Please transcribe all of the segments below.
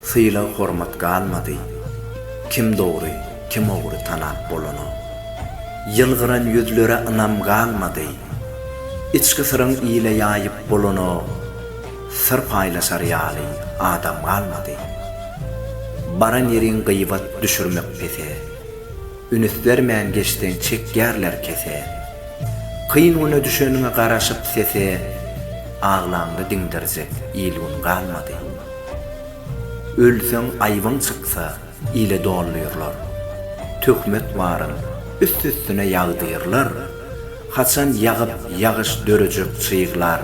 Sylag-hormat galmady. Kim dogry, kim ogry tanap bolanok. Ýylgyran ýüzlere ynam galmady. Içki syryň ile ýaýyp bolanok. Syr paýlaşar ýaly adam galmady. Baran ýeriň gyýbat düşürmek pese. Ünüs bermän geçseň çekýärler kese. Kyn güne düşeniňe garaşyp sese. Aglaňda diňdirjek il-gün galmady. Ölseň aýbyň çyksa, ile doldyrlar. Töhmet baryn, üst-üstüne ýagdyrlar. Haçan ýagyp ýagyş dörejek çyglar,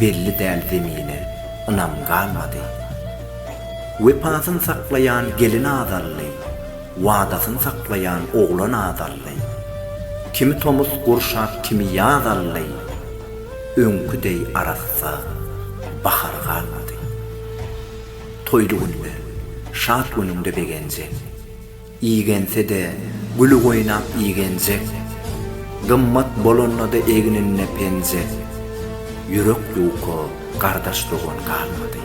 Belli däl zemine, ynam galmady. Wepasyn saklaýan gelin azaldy, Wadasyn saklaýan oglan azaldy. Kimi tomus gurşap kimi ýaz aldy. Öňki deý arassa bahar galmady. Toýly günde, şat günüňde begenjek. Igense-de güli goýnap igenjek. Gymmat bolanda-da egninde penjek. Ýürek ýuka gardaş-dogan galmady.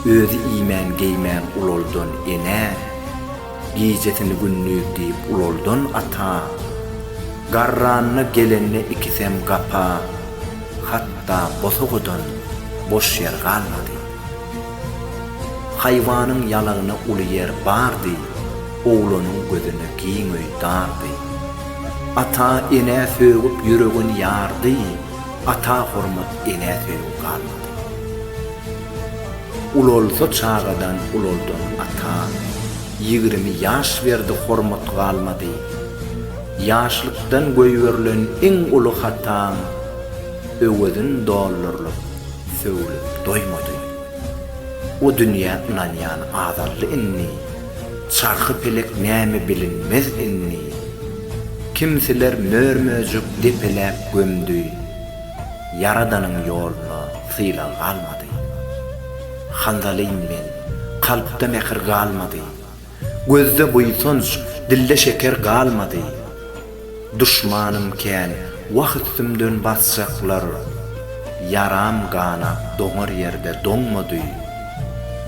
Özi iýmän-geýmän ulaldan enä. Gijesini gündiz diýip ulaldan ata, Garranyna gelende ikisem gapa, Hatda bosagadan boş ýer galmady. Haýwanyň ýalagyna uly ýer bardy, Oglanyň gözüne giň öý dardy. Ata enä sögüp ýüregin ýardy, Ata hormat enä söýgi galmady. Ulalsa çagadan ulaldan ata Ýigrimi ýaş berdi hormat galmady Ýaşlykdan goýberilen iň uly hata Öwezin dollarlap sögülip doýmady O dünýä ynanýan azaldy indi Çarhy pelek näme bilinmez indi Kimsiler mör-möjek depeläp gömdi Ýaradanyň ýoluna Sylag galmady. Handalyň men, kalpda mähir galmady. Gözde buýsanç, dilde şeker galmady. Duşmanym kän, wah üstümden basjaklar. Ýaram ganap doňar ýerde doňmady.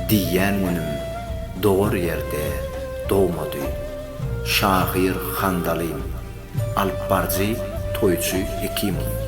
Diýýän günim dogar ýerde dogmady. Şahyr Handalyň. Alypbaryjy, toýçy Hekimow.